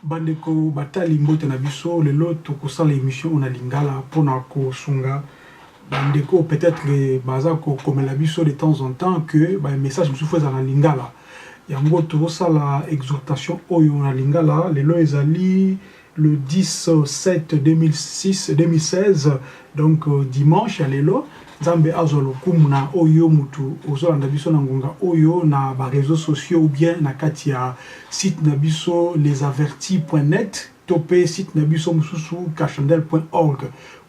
bandeko batali mbote na biso lelo tokosala émission oyo na lingala mpona kosunga bandeko peut-être baza kokomela biso de temps en temps que bamessage mosusu ezala na lingala yango tozosala exhortation oyo na lingala lelo ezali le 10 7 2006 2016 donc dimanche ya lelo nzambe azwa lokumu na oyo mutu ozolanda biso na ngonga oyo na ba reseaux sociaux ou bien na kati ya site na biso lesavertis.net to pe site na biso mususu cachandel.org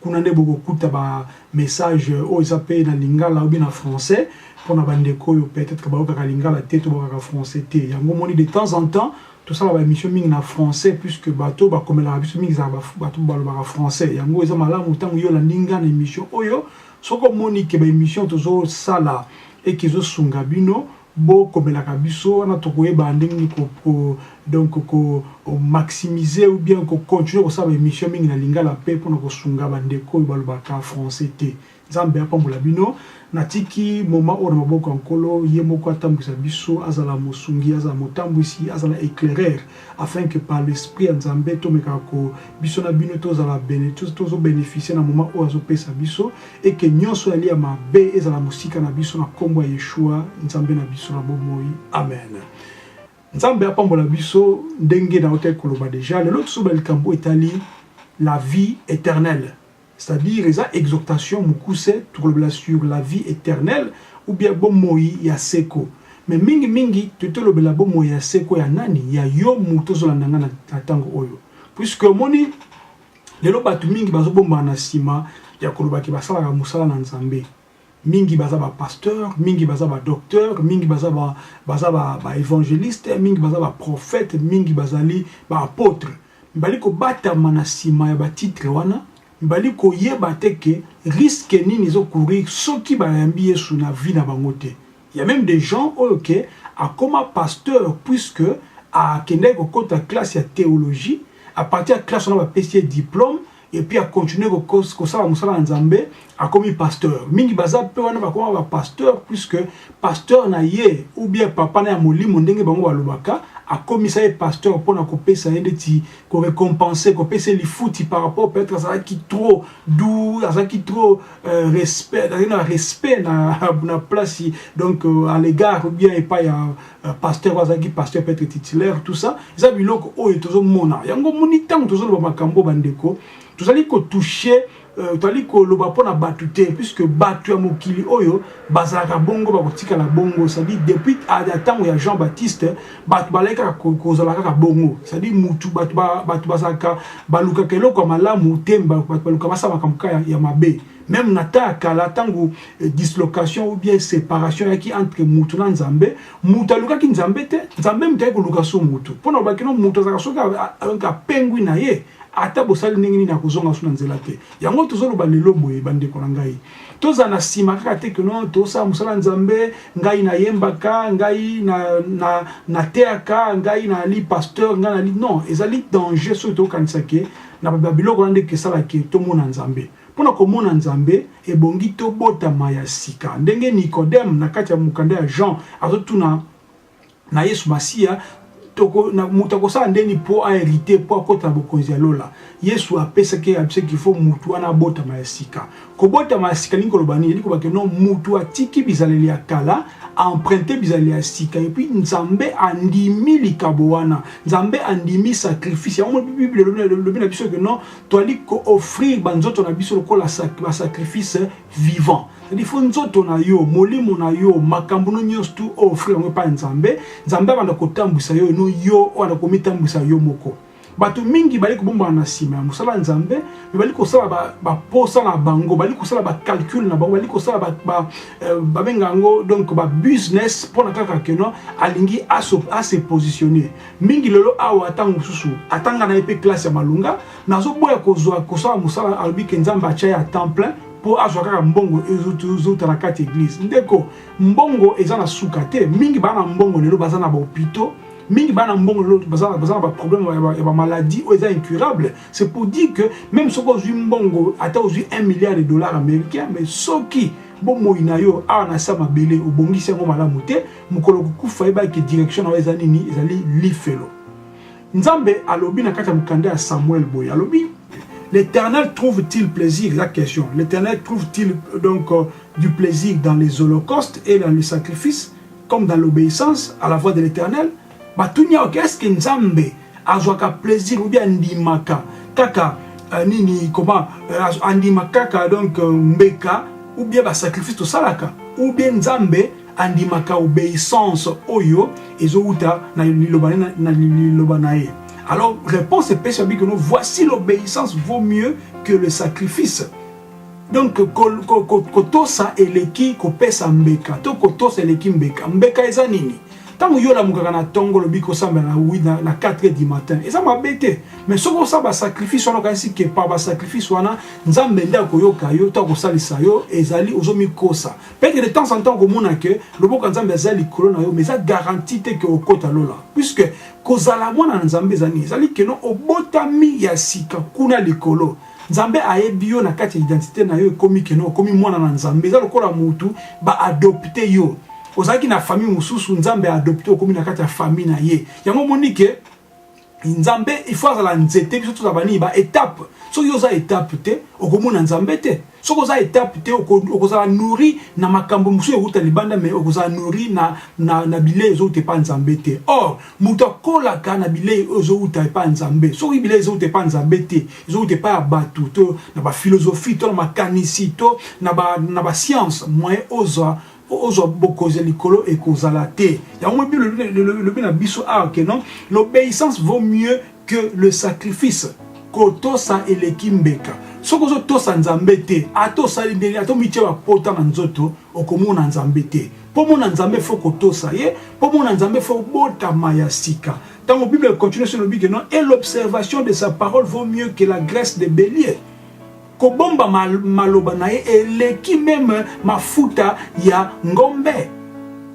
kuna nde bokokuta ba message oyo eza pe na lingala ou bien na français pona ba ndeko oyo peut-être bayokaka lingala te to bayokaka français te yango moni de temps en temps tosala ba emission mingi na français puisque bato oyo bakomelaka biso mingi ezalaka bato balobaka français yango eza malamu ntango yo olandi nga na emission oyo soki omoni ke ba emission tozosala eke ezosunga bino bokomelaka biso wana tokoyeba ndenge nini ko, ko, donc ko maximiser ou bien ko continuer kosala ba emission mingi na lingala mpe mpona kosunga bandeko oyo balobaka français te Nzambe apambola bino. Natiki moment oyo na maboko ya Nkolo, ye moko atambwisa biso, azala mosungi, azala motambwisi, azala eclairer, afin que par l'esprit ya Nzambe tomekaka ko biso na bino tozala bene, tozo beneficier na moment oyo azopesa biso, et que nionso oyo yali ya mabe ezala mosika na biso na kombo ya Yeshua, Nzambe na biso na bomoi. Amen. Nzambe apambola biso ndenge nautaki koloba deja. Lelo tozoba likambo etali la vie eternelle. C'est à dire eza exhortation mukuse tokolobela sur la vie eternelle ou bien bomoyi ya seko mais mingi mingi totolobela bomoyi ya seko ya nani ya yo mutu ozolanda nga na tango oyo puisque omoni lelo bato mingi bazobombana na nsima ya koloba ke basalaka mosala na nzambe mingi baza ba pasteur mingi baza ba docteur mingi baza ba baza ba, ba evangeliste mingi baza ba prophète mingi bazali ba apotre mbali kobatama na sima ya ba titre wana mbali koyeba te ke risque nini ezo courir soki bayambi Yesu na vie na bango te Il ya meme des gens oyo ke akoma pasteur puisque a kendaki ko kota classe ya theologie a partir ya classe wana ba pesi ye diplome et puis a continuer ko kos ko sala musala ya nzambe akomi pasteur mingi baza pe wana bakoma ba pasteur puisque pasteur na ye ou bien papa na ya molimo ndenge bango ba lobaka a komisa ye pasteur pona ko pesa ye ndeti ko recompense ko pesa ye lifuti par rapport peut etre azalaki trop doux azalaki trop Euh, respect azali na respect na, na place donc euh, à l'égard bien epai ya euh, pasteur azalaki pasteur peut-être titulaire tout ça eza biloko oyo tozomona yango moni ntango tozoloba makambo bandeko tozali kotouche euh, tozali koloba mpo na bato te puisque bato ya mokili oyo bazalaka bongo bakotikala bongo cestadire depuis ata ntango ya jean baptiste bato balaki kaka kozala kaka bongo cestadire mutu bato bato bazalaka balukaka eloko ya malamu te bato baluka basala makambo kaka ya mabe meme na ta ya kala ntango eh, dislocation ou bien séparation eyaki entre mutu na nzambe mutu alukaki nzambe te nzambe moto ayaki koluka so mutu mpo na bakino mutu azalaka soki apengwi na ye ata bosali ndenge nini akozonga so na nzela te yango tozoloba lelo boye bandeko na ngai tozala na nsima kaka te ke non tosala mosala nzambe ngai nayembaka ngai nateyaka na, na ngai nali pasteur ngai nali non ezali danger soki tokokanisa ke na babiloko wana nde kesala ke tomona nzambe mpo na komona nzambe ebongi tobotama ya sika ndenge nicodème na kati ya mokanda ya jean azotuna na Yesu Masiya, moto akosala nde nini mpo aherite mpo akota na bokonzi ya lola? Yesu apesaki abisaki qu'il faut moto wana abotama ya sika. Kobotama ya sika lingi koloba nini? Elingi koloba ke no moto atiki bizaleli ya kala, emprunte bizaleli ya sika, epuis Nzambe andimi likabo wana, Nzambe andimi sacrifice. Yango Bible elobi na biso ke no toali ko offrir banzoto na biso lokola ba sacrifice vivant cest faut nzoto na yo molimo na yo makambo no nyonso tu offrir yango epai nzambe nzambe abanda kotambwisa yo no yo oyo na komitambwisa yo moko bato mingi bali kobombana na nsima ya mosala ya nzambe me bali kosala baposa ba na bango bali kosala bacalcule na bango bali kosala babenga ba, eh, yango donc babusiness mpona kaka keno alingi ase positionne mingi lelo awa ntango mosusu atanga na ye mpe classe ya malonga nazoboya kozwa kosala mosala alobi ke nzambe atya ya temps plein mpo azwa kaka mbongo ezouta na kati eglise ndeko mbongo eza na suka te mingi bana mbongo lelo baza na bahopitaux mingi bana mbongo lelo baza na baproblème ya bamaladi oyo eza incurable c'est pour dire que même soki ozwi mbongo ata ozwi 1 milliard de dollars américain mais soki bomoi na yo awa na sa mabele obongisi yango malamu te mokolo kokufa yebaki direction na yo eza nini ezali lifelo Nzambe alobi na kati ya mokanda ya Samuel boye alobi L'Éternel trouve-t-il plaisir La question. L'Éternel trouve-t-il euh, donc euh, du plaisir dans les holocaustes et dans les sacrifices, comme dans l'obéissance à la voix de l'Éternel Batunia, ok, est-ce que Nzambe azwaka plaisir ou bien ndimaka kaka euh, nini comment andimaka kaka donc mbeka ou bien ba sacrifice tosalaka ou bien Nzambe andimaka obeissance oyo ezowuta na liloba na, na liloba na ye alors réponse epesi babi keno voici l'obéissance vaut mieux que le sacrifice donc kotosa ko, ko, eleki kopesa mbeka to kotosa eleki mbeka mbeka eza nini ntango yo olamukaka na ntongo olobi kosambela na wi na, na 4 heures du matin eza mabe te mais soki osala basacrifice wana okanisi kepa basacrifice wana nzambe nde akoyoka yo to akosalisa yo ezali ozomikosa Peut-être de temps en temps okomona que loboko ya Nzambe aza likolo na yo mais eza garantie te que okota lola puisque kozala mwana na Nzambe eza nini ezali keno obotami ya sika kuna likolo Nzambe ayebi yo na kati ya identité na yo ekomi keno okomi mwana na Nzambe eza lokola mutu ba adopte yo ozalaki na famille mosusu Nzambe a adopte okomi na kati ya famille na ye yango omoni ke nzambe il faut azala nzete biso tozala banini ba étape soki oza étape te okomona nzambe te soki oza étape te okozala nourri na makambo mosusu ewuta libanda mai okozala nourri na, na, na bilei ezowuta epa nzambe te or moto akolaka na bilei oyo ezowuta epa nzambe soki bilei ezowuta epa nzambe te ezowuta epa ya bato to na baphilosophie to na makanisi to na bascience moyen ozwa ozwa bokonzi ya likolo ekozala te yango elobi na biso awa ke non l'obéissance vaut mieux que le sacrifice kotosa eleki mbeka soki ozotosa nzambe te ata osali ndenge ata omitye bapota na nzoto okomona nzambe te mpo mona nzambe fo kotosa ye mpo mona nzambe fo obotama ya sika ntango bible continue se elobi ke non et l'observation de sa parole vaut mieux que la graisse de bélier Kobomba maloba na ye eleki meme mafuta ya ngombe.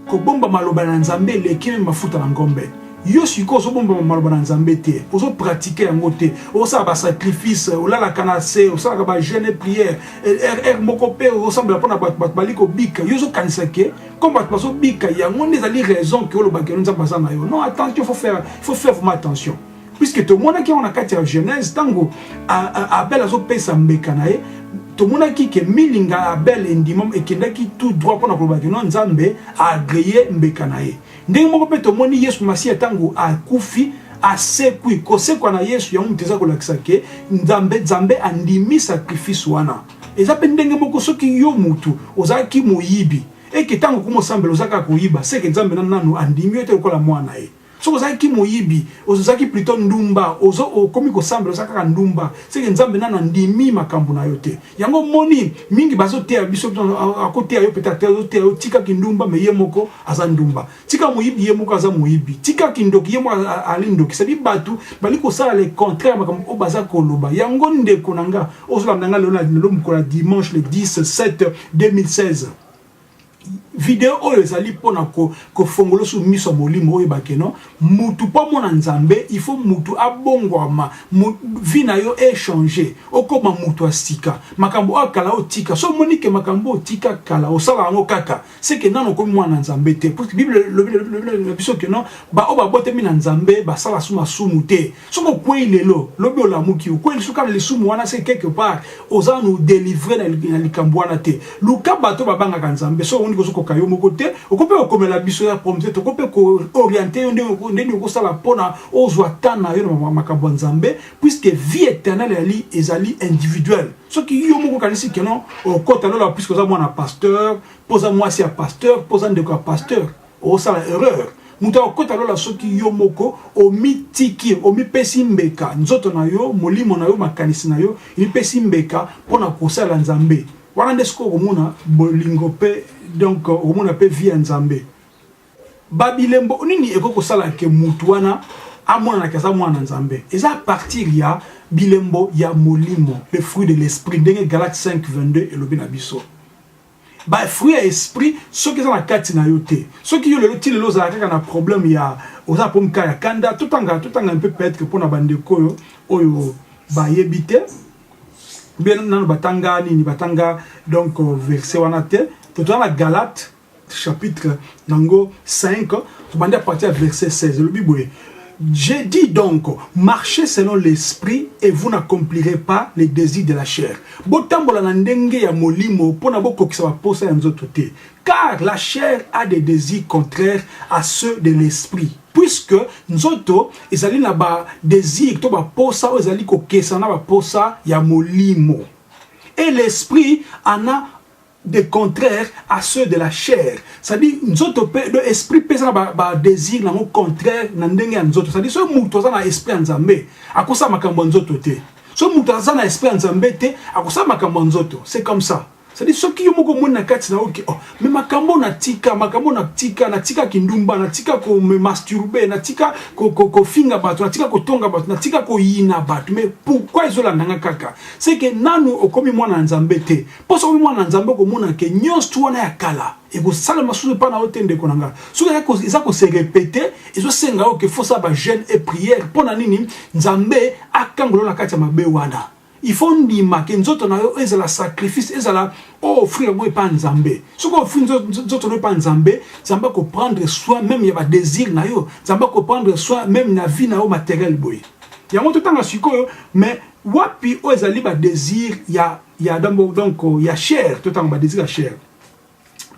Kobomba maloba na Nzambe eleki meme mafuta na ngombe. yo sikoyo ozobomba maloba na nzambe te ozopratike yango te osala basacrifice olalaka na se osalaka bajeune prière rr moko mpe osambela mpo na bato bato bali kobika yo ozokanisa ke comme bato bazobika yango nde ezali raison ke olobaka elo nzambe aza na yo non attention faut faire, faut faire vraiment attention puisque tomonaki yango na kati ya genèse ntango abel azopesa mbeka na ye tomonaki ke milinga ya abel endimam ekendaki tout droit mpo na koloba kino nzambe aagreye mbeka na ye ndenge moko mpe tomoni yesu masiya ntango akufi asekwi kosekwa na yesu yango moto eza kolakisa ke nzambe nzambe andimi sacrifice wana eza mpe ndenge moko soki yo motu ozalaki moyibi eke ntango okomosambela ozalaka koyiba seke nzambe na nanu andimi yo te lokola mwana ye soki ozalaki ki moyibi ozozaki plutot ndumba ozo okomi kosambela oza kaka ndumba seke nzambe nanu andimi makambo na yo te yango omoni mingi bazoteya biso akoteya yo peut-être te azoteya yo tika kindumba me ye moko aza ndumba tika moyibi ye moko aza moyibi tika kindoki ye moko ali ndoki sadi bato bali kosala le contraire makambo oyo baza koloba yango ndeko na nga ozolanda nga lelo na lelo mokolo ya dimanche le 10 7 2016 video oyo ezali mpo na kofongola su miso ya molimo oyeba keno mutu mpo amona nzambe il faut mutu abongwama vi na yo echange okoma mutu ya sika makambo oyo kala otika so omoni ke makambo otika kala osala yango kaka seke nano okomi mwana nzambe te puisque bible elobi na biso keno baoyo babotami na nzambe basala su masumu te Soki okwei lelo, lobi olamuki, okwei lisusu kaka na lisumu wana, se quelque part oza nanu delivre na likambo wana te. Luka bato babangaka Nzambe, soki omoni kozokoka yo moko te, okoki mpe kokomela biso ya promte, tokoki mpe ko orienter yo ndenge nini okosala mpo na ozwa temps na yo na makambo ya Nzambe, puisque vie eternelle ezali ezali individuel. Soki yo moko okanisi que non okota lola puisque oza mwana pasteur, mpo oza mwasi ya pasteur, mpo oza ndeko ya pasteur, Osala erreur. Moto akokota lola soki yo moko omitiki, omipesi mbeka, nzoto na yo, molimo na yo, makanisi na yo, emipesi mbeka mpo na kosalela Nzambe. Wana nde sikoyo okomona bolingo mpe donc okomona mpe vie ya Nzambe. Ba bilembo nini ekoki kosala ke moto wana amonanaka aza mwana na Nzambe? Eza a partir ya bilembo ya molimo, le fruit de l'esprit, ndenge Galate 5 22 elobi na biso. Ba fruits ya esprit soki eza na kati na yo te. Soki yo lelo ti lelo ozala kaka na problème ya oza po mka ya kanda to tanga to tanga un peu peut-être pona ba ndeko oyo oyo ba yebi te. Bien nanu batanga nini batanga donc euh, verset wana te. To tanga Galate chapitre nango 5 tobandi à partir ya verset 16 elobi boye Je dis donc marchez selon l'esprit et vous n'accomplirez pas les desirs de la chair. Botambola na ndenge ya molimo mpo na bokokisa baposa ya nzoto te. Car la chair a des desirs contraires à ceux de l'esprit. Puisque nzoto ezali na ba desirs to baposa oyo ezali kokesana na baposa ya molimo. Et l'esprit en a de contraire à ceux de la chair c'est-à-dire nzoto pe de esprit pe eza na ba désir na ngo contraire na ndenge ya nzoto c'est-à-dire soki moto aza na esprit ya nzambe akosala makambo ya nzoto te soki moto aza na esprit ya nzambe te akosala makambo ya nzoto c'est comme ça sadi soki yo moko omoni na kati na oke oh, me makambo natika makambo natika natika kindumba natika komasturbe natika kofinga bato natika kotonga bato natika koyina bato me pourkui ezolanda nga kaka seke nanu okomi mwana ya nzambe te Mpo soki mwana na Nzambe, okomona ke nyonso wana ya kala ekosalema susu epai na yo te, ndeko na nga. Soki eza ko se repeter, ezosenga yo ke fo sala ba jeune et prière. Mpo na nini? Nzambe akangola yo na kati ya mabe wana. Il faut ondima ke nzoto na yo ezala sacrifice, ezala o offrir yango epai ya Nzambe. Soki o offrir nzoto na yo epai ya Nzambe, Nzambe ako prendre soin meme ya ba desirs na yo, Nzambe ako prendre soin meme na vie na yo materielle boye. Yango totanga sikoyo, mais wapi oyo ezali ba desirs ya ya donc donc ya chair to tanga ba désir ya chair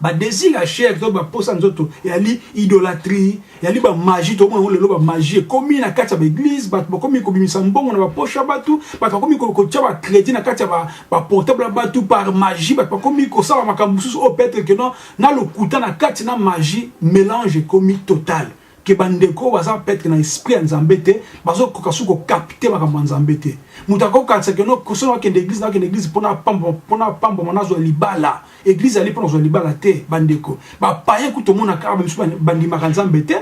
ba désir ya chair to ba posa nzoto ya li idolatrie ya li ba magie to mona lelo ba magie komi na kati ya ba église ba ba komi ko bimisa mbongo na ba poche ya batu ba ba komi ko ko tia ba crédit na kati ya ba ba portable ya batu par magie ba ba komi ko sala makambo susu au peut-être que non na lokuta na kati na magie mélange komi total ke bandeko oyo baza petre na esprit ya nzambe te bazokoka soki kokapite makambo ya nzambe te moto akokakisa ke soki nakende eglise nakende eglise mpona mpona apambwama nazwa libala eglise ali mpo nazwa libala te bandeko bapaye kutu omonaka awa misu bandimaka nzambe te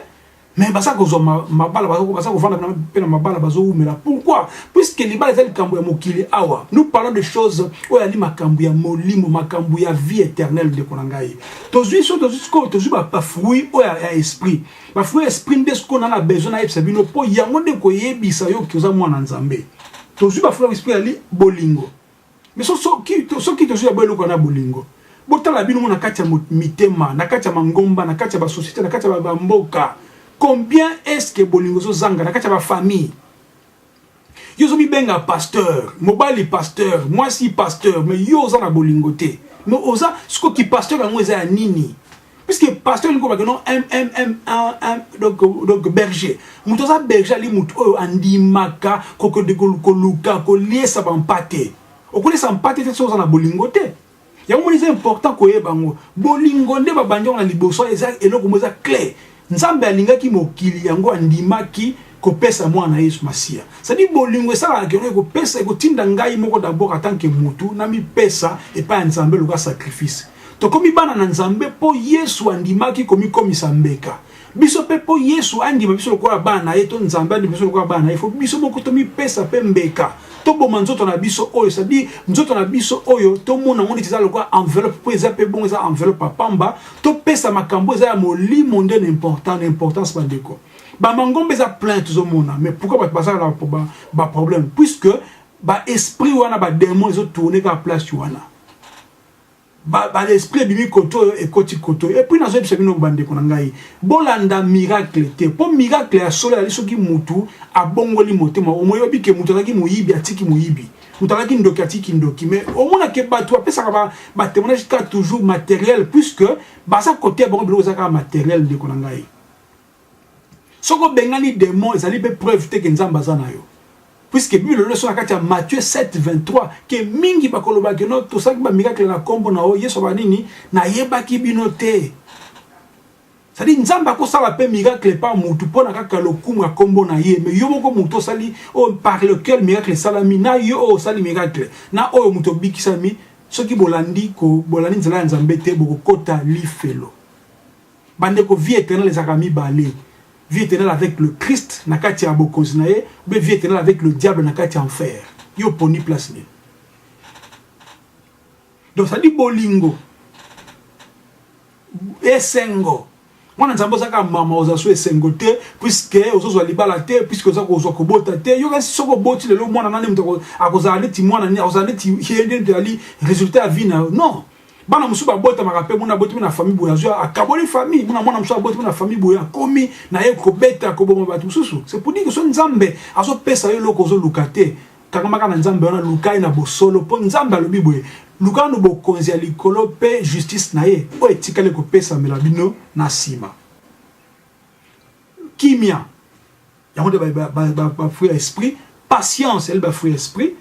mais baza kozwa mabala baza kovanda mpe na mabala bazowumela pourquoi puisque libala eza likambo ya mokili awa nous parlons de choses oyo ali makambo ya molimo makambo ya vie éternelle ndeko na ngai tozwi so tozwi sikoyo tozwi bafruit oyo ya esprit bafruit ya esprit nde sikoyo na na besoin nayebisa bino mpo yango nde koyebisa yo toza mwana nzambe tozwi bafruit ya esprit yali bolingo mais soki tozwi yabo eloko na bolingo botala bino mo na kati ya mitema na kati ya mangomba na kati ya basosiete na kati ya bamboka combien est ce que bolingo ezozanga na kati ya bafamille yo ozo mibenga pasteur mobali pasteur mwasi pasteur mais yo oza na bolingo te mais oza siko ki pasteur yango eza ya nini puisque pasteur elingi kobake non donc, donc berger moto aza berger ali moto oyo andimaka kokende koluka koliesa bampate okoliesa mpate te soki oza na bolingo te yango moni eza important koyeba yango bolingo nde babandi yango na liboso eza eloko mo eza clair nzambe alingaki mokili yango andimaki kopesa mwana yesu masiya sadi bolingo esalaka keno ekopesa ekotinda ngai moko dabord atanke motu namipesa epai ya nzambe loka sacrifice tokomi bana na nzambe mpo yesu andimaki komikomisa mbeka Biso mpe mpo Yesu andima biso lokola bana na ye to Nzambe andima biso lokola bana na ye, fo biso moko tomipesa mpe mbeka, toboma nzoto na biso oyo sadi nzoto na biso oyo tomona yango neti eza lokola enveloppe mpo eza mpe bongo, eza enveloppe ya pamba. Topesa makambo eza ya molimo nde na important na importance bandeko. Bamangomba eza plein tozomona, mais pourquoi bato bazala na baproblème puisque ba esprit wana bademon ezotourne kaka place wana. Ba ba esprit ebimi koto oyo ekoti koto oyo. Et puis nazo yebisa bino ba ndeko na ngai, bolanda miracle te po miracle ya solo ezali soki mutu abongoli motema. Omoyobi ke mutu azalaki moyibi atiki moyibi, mutu azalaki ndoki atiki kindoki. Mais omona ke batu bapesaka ba ba temoignages kaka toujours materiels puisque baza koteya bango biloko eza kaka materiels ndeko na ngai. Soki obengani demon ezali pe preuve te ke Nzambe aza na yo. Puisque Bible elobi biso na kati ya Matthieu 7, 23 ke mingi bakoloba ke no tosalaki ba miracle na kombo na yo, Yesu aloba nini? Nayebaki bino te. C'est-à-dire Nzambe akosala pe miracle epa mutu pona kaka lokumu ya kombo na ye, mais yo moko mutu osali oyo par lequel miracle esalami na yo oyo osali miracle na oyo mutu obikisami soki bolandi ko bolandi nzela ya Nzambe te bokokota lifelo. Bandeko vie eternelle ezalaka mibale, vie eternelle avec le Christ na kati ya bokonzi na ye ou bien vie eternelle avec le diable na kati ya enfer. Yo oponi place nini? Donc ça dit bolingo esengo mwana nzambe oza kaka mama oza so esengo te puiske ozozwa libala te puiske oza kozwa kobota te yo kasi soki oboti lelo mwana nani moto akozala neti mwana nini akozala neti ye nde moto ezali résultat ya vie na yo non bana mosusu babotamaka mpe mona abotami na famille boye azwi akaboli famille mona mwana mosusu abotami na famille boye akomi na ye kobeta koboma bato mosusu c'est pour dire que so nzambe azopesa yo eloko ozoluka te kangamaka na nzambe wana luka ye na bosolo mpo nzambe alobi boye luka nanu bokonzi ya likolo mpe justice na ye oyo etikali kopesamela bino na nsima kimia yango nde bafruit ya esprit patience yali bafruit ya esprit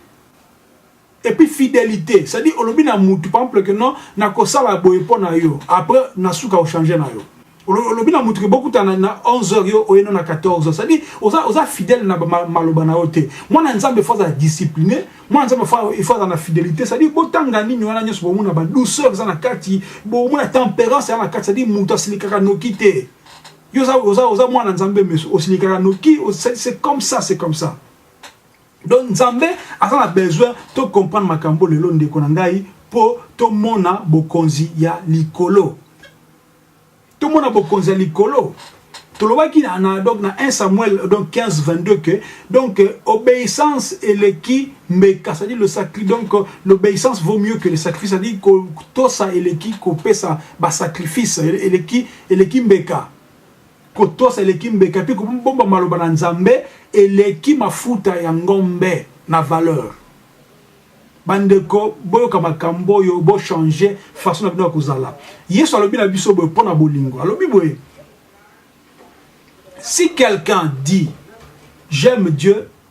et puis fidelite c'est à dire olobi na mutu par exemple que non nakosala boye mpo na yo après na suka ochange na yo olobi na mutu ke bokutana na 11 heures yo oyeno na 14 heures c'est à dire oza, oza fidèle na maloba na yo te mwana nzambe faut aza discipliné mwana nzambe il faut aza na fidélité c'est à dire botanga nini wana nyonso bomona ba douceur eza na kati bomona tempérance eza na kati c'est à dire mutu asilikaka noki te yo oza, oza, oza mwana nzambe meso osilikaka noki c'est comme ça c'est comme ça Donc Nzambe aza na besoin to comprendre makambo lelo ndeko na ngai po to mona bokonzi ya likolo. To mona bokonzi ya likolo. Tolobaki na, na donc na 1 Samuel donc 15 22 que donc euh, obéissance eleki mbeka c'est-à-dire le sacrifice donc euh, l'obéissance vaut mieux que le sacrifice c'est-à-dire ko tosa eleki ko pesa ba sacrifice eleki eleki mbeka Kotosa eleki mbeka mpe kobomba maloba na Nzambe eleki mafuta ya ngombe na valeur. Bandeko, boyoka makambo oyo, bo changer façon na bino ya kozala. Yesu alobi na biso boye mpo na bolingo, alobi boye si quelqu'un dit j'aime Dieu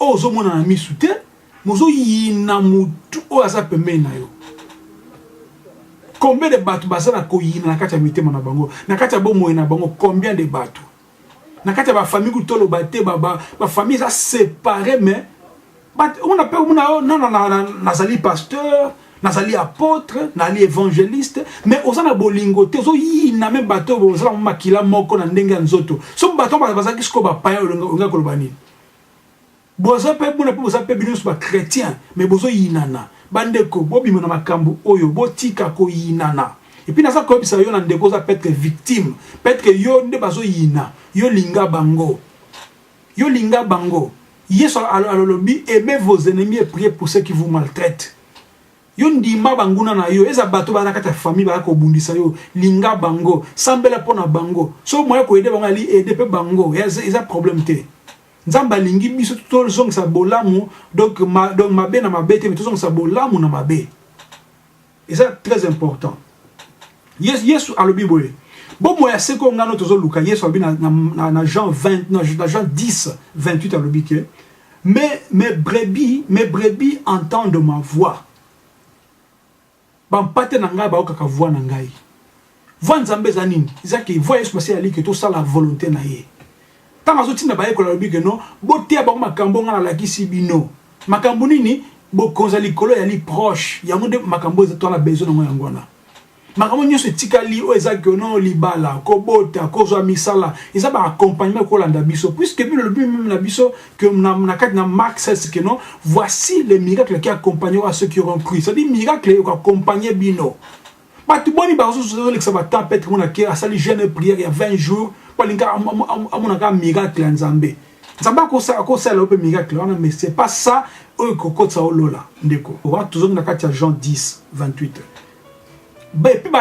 oyo ozo mona na misu te mais ozo yina mutu oyo aza pembeni na yo combien de bato baza na koyina na kati ya mitema na bango na kati ya bomoi na bango combien de bato na kati ya bafamille kutu toloba te bafamille eza separe mais omona mpe omona yo nana nazali pasteur nazali apôtre nazali évangéliste mais oza na bolingo te ozoyina me bato oyo ozala makila moko na ndenge ya nzoto so bato bazalaki sikoyo bapaya olingaki koloba nini Boza pe buna pe boza pe bino ba chretien mais bozo yinana bandeko bobima na makambu oyo botika koyinana et puis naza koyebisa yo na ndeko oza petre victime petre yo nde bazo yina yo linga bango yo linga bango yesu alolobi aimez vos ennemis et priez pour ceux qui vous maltraitent Yo ndima banguna na yo eza bato bana kati ya famille baya kobundisa yo linga bango sambela mpo na bango so moye koyede bango ali ede mpe bango eza problème te nzambe alingi biso tozongisa bolamu donc ma, donc mabe na mabe te me tozongisa bolamu na mabe eza très important yesu, yesu alobi boye bomoi ya seko ngano tozoluka yesu alobi na, na, na, na jean 20 na, na jean 10 28 alobi ke Mes, mes brebis, mes brebis entendent ma voix. Ba mpate na ngai bayokaka voix na ngai. Voix Nzambe eza nini? Eza ke voix Yesu Masiya aliki tosala volonte na ye. Ntango azotinda bayekoli alobi ke no boteya bango makambo ngai nalakisi bino. Makambo nini? Bokonzi ya likolo eyali proche. Yango nde makambo oyo tozala besoin na yango yango wana. makambo nyonso etikali oyo eza kiono libala kobota kozwa misala eza ba accompagnement kolanda biso puisque bino lobi meme na biso que na, na kati na mark sas que non voici les miracles qui accompagnent à ceux qui auront cru c'est à dire miracle ekoaccompagne bino bato boni bazozolekisa batemp petre mona ke asali jeune prière ya 20 jours mpo alinga amonaka miracle ya nzambe nzambe akosala yo mpe miracle wana mais c'est pas ça oyo ekokotisa olola ndeko owa tozongi na kati ya jean 10 28 epuis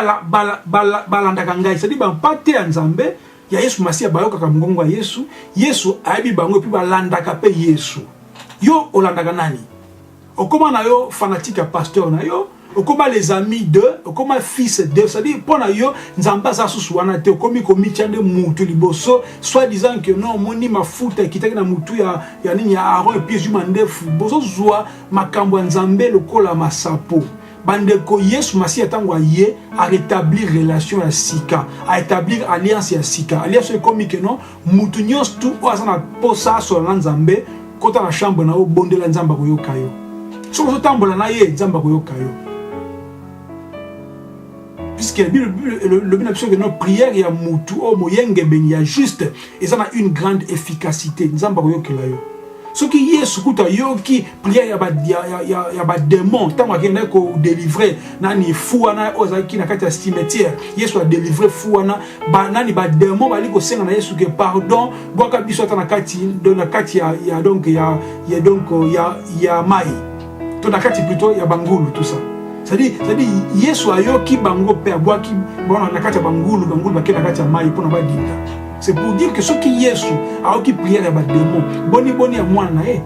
balandaka ngai cetadi bampate ya nzambe ya yesu masiya bayokaka mongongo ya yesu yesu ayebi bango epuis balandaka mpe yesu yo olandaka nani okoma na yo fanatike ya pasteur na yo okoma les amis de okoma fils de cetadire mpo na yo nzambe aza susu wana te okomi komitya nde mutu liboso soit disant que non omoni mafuta ekitaki na mutu ya, ya nini ya aron epuis ezwi mandefu bozozwa makambo ya nzambe lokola masapo bandeko yesu masiya ntango aye aretablir relation ya sika aétablir alliance ya sika alliance oyo ekomi keno motu nyonso tu oyo aza na mposa asola na nzambe kota na chambre na yo bondela nzambe akoyoka yo soki ozotambola na ye nzambe akoyoka yo puisque la Bible, le, le, la Bible, notre prière ya mutu o oh, moyengebeni ya juste eza na une grande efficacité nzambe akoyokela yo soki yesu kutu ayoki prière ya bademon ya, ya, ya ntango akendaki kodelivre nani fu wana oyo azalaki na kati ya cimetière yesu adelivre fu wana ba, nani bademon bali kosenga na yesu ke pardon bwaka biso ata na kati, na kati ya, ya, donc, ya, ya, donc, ya, ya mai to na kati plutot ya bangulu tout ça c'est-à-dire c'est-à-dire yesu ayoki bango mpe abwaki bona na kati ya bangulu bangulu bakei na kati ya mai mpo na badinda c'est pour dire que soki yesu ayoki priere ya bademo boni boni ya mwana na ye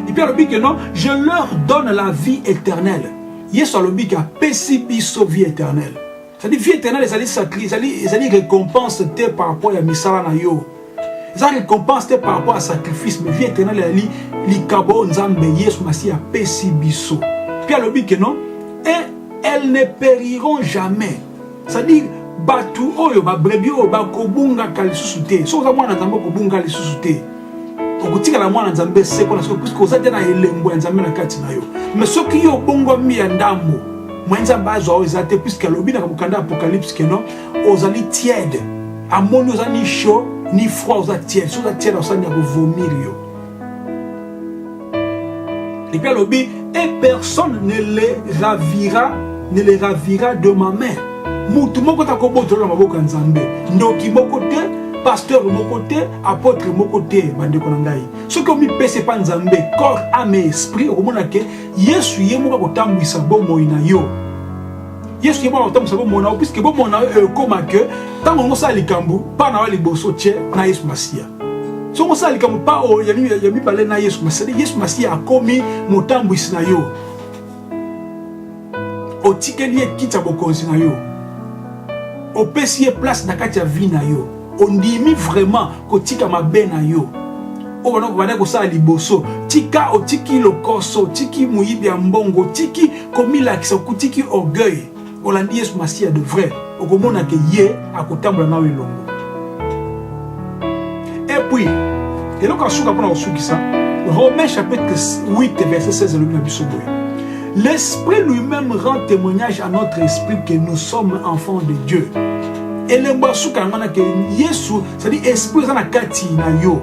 epuis alobi ke non je leur donne la vie éternelle yesu alobi ke apesi biso vie éternelle ezali vie éternelle ezali sacri ezali ezali récompense te par rapport ya misala na yo eza récompense te par rapport ya sacrifice mais vie éternelle ezali likabo oyo nzambe yesu masiya apesi biso mpe alobi ke non et elles ne périront jamais c'est-à-dire bato oyo babrebi oyo bakobungaka lisusu te soki oza mwana nzambe okobunga lisusu te okotikala mwana nzambe seko na seko puiske oza te na elembo ya nzambe na kati na yo mais soki yo obongwami ya ndambo mwa nzambe azwa oyo eza te puiske alobi na mokanda ya apocalypse keno ozali tiede amoni oza ni chaud ni froid oza tiede so oza tiede osani ya kovomir yo Et puis alobi, et personne ne les ravira, ne les ravira de ma main. Mutu moko ta kobotola na maboko ya Nzambe. Ndoki moko te, pasteur moko te, apôtre moko te, bandeko na ngai. Soki omipesa epa Nzambe, corps, ame, esprit, okomona ke Yesu ye moko akotambwisa bomoi na yo. Yesu ye moko akotambwisa bomoi na yo, puisque bomoi na yo ekoma ke ntango yango osala likambo, mpa na yo liboso tye na Yesu Masiya. soki osala likambo pa oyo ya mibale na yesu masali yesu masiya akomi motambwisi na yo otikeli ye kiti ya bokonzi na yo opesi ye place na kati ya vie na yo ondimi vraiment kotika mabe na yo oyo wana obandaki kosala liboso tika otiki lokoso otiki moyibi ya mbongo otiki komilakisa okutiki orgueil olandi yesu masiya de vrai okomona ke ye akotambola nayo elongo epuis eloko ya suka mpona kosukisa romain chapitre 8 verset 16 elobi na biso boye l'esprit lui-même rend témoignage à notre esprit que nous sommes enfants de dieu elembo ya suka yango na ke yesu cetadi esprit eza na kati na yo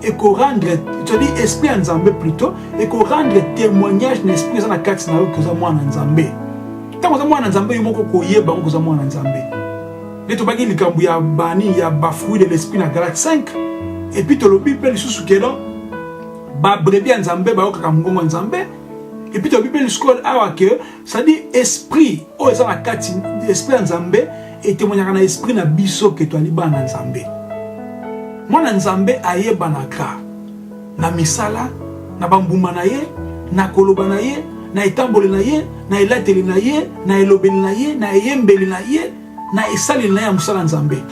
et qu'on rendre, tu as dit esprit en Zambé plutôt, et qu'on rendre témoignage de l'esprit dans la carte na que ça moi en Zambé. Tant que ça moi en Zambé, il moko koye ba que ça moi en Zambé. Les to bagi likambu ya bani ya bafoui de l'esprit na Galate 5 et puis to lobi pe lisusu que non ba brebis en Zambé ba okaka mungongo en Zambé et puis to lobi pe lisusu awa que c'est-à-dire esprit oyo eza na kati esprit ya nzambe etemonyaka na esprit na biso ke toali bana na nzambe mwana nzambe ayebanaka na misala na bambuma na ye na koloba na ye na etamboli na ye na elateli na ye na elobeli na ye na eyembeli na ye na esaleli na ya mosala Nzambe.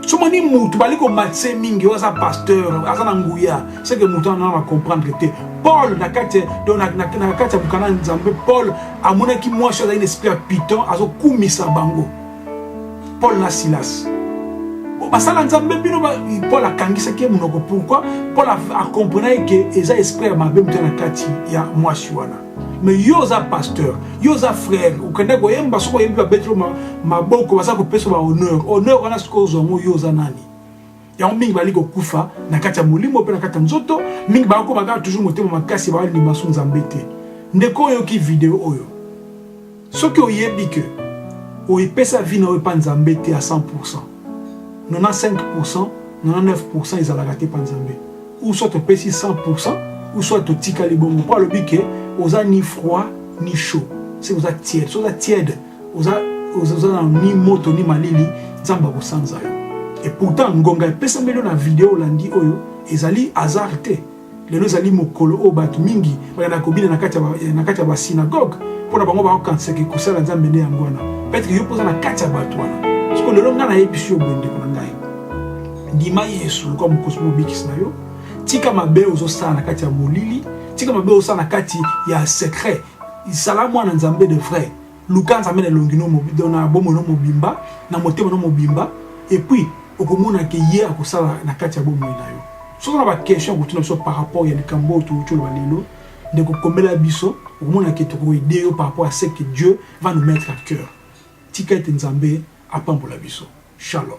Somoni mutu bali komatisa ye mingi oyo aza pasteur aza na nguya seke mutu wana na comprendre te paul na kati na kati ya mokanda nzambe paul amonaki mwasi azali na esprit ya piton azokumisa bango paul na silas basala nzambe bino paul akangisaki ye monoko pourkui paul akomprenaki ke eza esprit ya mabe moto na kati ya mwasi wana mais yo oza pasteur yo oza frère okenda koyemba soki oyembi babetelo maboko baza kopesa ba honneur honneur wana soki ozwa yango yo oza nani yango mingi bali kokufa na kati ya molimo mpe na kati ya nzoto mingi bakokoma kaka toujours motema makasi baali limasu nzambe te ndeko oyoki video oyo Soki oyebi que o epesa vie na yo epa Nzambe te à 100 pourcent, 95 pourcent, 99 pourcent ezalaka te epa Nzambe. Ou soit opesi 100 pourcent, ou soit otikali bongo. Po alobi que oza ni froid ni chaud. C'est oza tiède. Soki oza tiède, oza oza na ni moto ni malili, Nzambe akosanza yo. Et pourtant ngonga epesameli yo na video olandi oyo ezali hasard te. lelo ezali mokolo oyo bato mingi bayana kobina na kati ya basinagoge mpo na bango bakokanisaki kosala nzambe nde yango wana peteke yo mpoza na kati ya bato wana siko lelo ngai nayebisi yo boye ndeko na ngai ndima yesu lokola mokosi mobikisi na yo tika mabe ozosala na kati ya molili tika mabe ozosala na kati ya secret zala mwana nzambe de vrai Luka Nzambe na elongi no mobimba, na bomoi no mobimba, na motema no mobimba, et puis okomona ke ye akosala na kati ya bomoi na yo. Soki na ba questions okotuna biso par rapport ya likambo oyo touti oloba lelo, ndeko komela biso, okomona ke tokoede yo par rapport à ce que Dieu va nous mettre à cœur. Tika ete Nzambe apambola biso. Shalom.